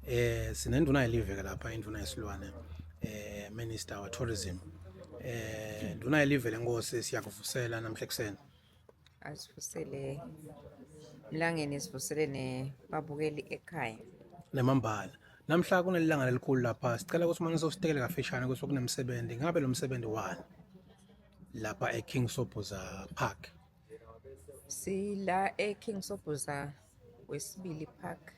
eh sinenduna yeliveke lapha induna yesilwane eh minister wa tourism eh nduna yelive lenkosi siyakuvusela namhla ekseni asivusele mlangeni sivusele ne babukeli ekhaya nemambala namhla kunelilanga lelikhulu lapha sicela ukuthi uma ngisositekele kafishane ukuthi kunemsebenzi ngabe lo msebenzi wani lapha eKing Sobhuza Park sila eKing Sobhuza wesibili park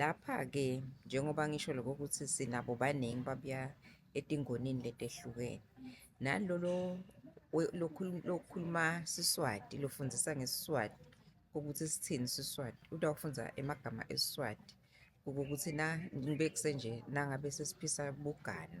Lapha-ke njengoba ngisho lokho ukuthi sinabo baningi babuya etingonini letehlukene. Nalolo lokhuluma Siswati, lofundisa ngeSiswati ukuthi sithini Siswati, utawufundza emagama eSiswati ukuthi na ngibe kusenje nangabe sesiphisa bugano.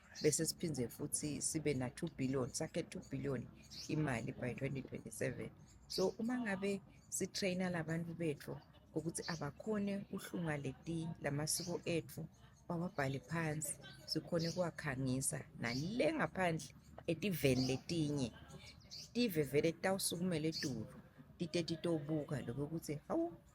bese siphinde futhi sibe na 2 billion sakhe 2 billion imali by 2027 so uma ngabe si trainer labantu bethu ukuthi abakhone uhlunga leti lamasiko ethu bawabhale phansi sikhone kuwakhangisa nale ngaphandle etiveni letinye tive vele tawusukumela etulu tite titobuka lokho ukuthi hawu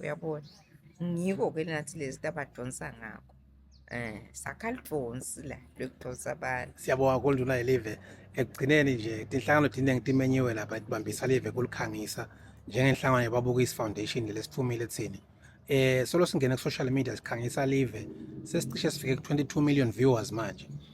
uyabona ngiko-ke nathi lezi nto abadonsa ngakho um sakha lidonsi la lokudonsa abantu siyabonga konduna yelive ekugcineni nje tinhlangano tiningi timenyiwe lapha tibambisa live kulikhangisa njengenhlangano yebabukisi foundation lesithumile thini eh solo singene ku-social media sikhangisa live sesicishe sifike ku-22 million viewers manje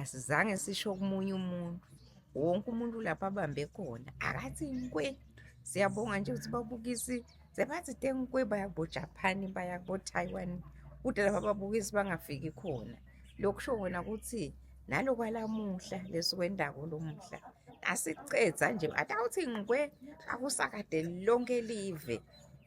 asizange sisho komunye umuntu wonke umuntu lapho abambe khona akathi nkwe siyabonga nje ukuthi babukisi sebathi tenkwe baya kubojapani baya kubotaiwan kude lapho ababukisi bangafiki khona lokhu sho wona ukuthi nalokwalamuhla lesukwendako lomuhla asicedza nje atawuthi ngikwe akusakade lonke live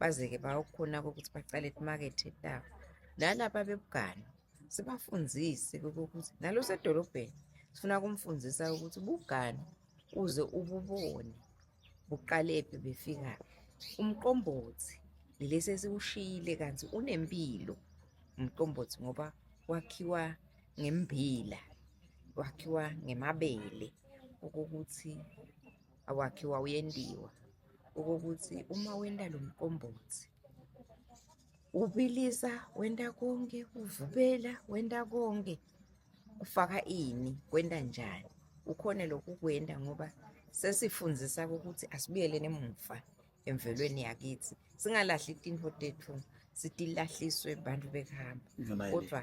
baze-ke bayokhona-ke ukuthi bacale imakethe etawo nalaba bebugane sibafundise ukuthi nalo sedolobheni sifuna kumfundisa ukuthi ubugane uze ububone buqalephi befika umqombothi lesi esiwushiyile kanti unempilo umqombothi ngoba wakhiwa ngembila wakhiwa ngemabele okokuthi awakhe wawuyendiwa okokuthi uma wenda lo mqombothi ubilisa wenda konke uvubela wenda konke ufaka ini kwenda njani ukhone lokhu kwenda ngoba sesifundisa ukuthi asibuyeleni emuva emvelweni yakithi singalahli itinho tethu sitilahliswe bantu bekuhamba kodwa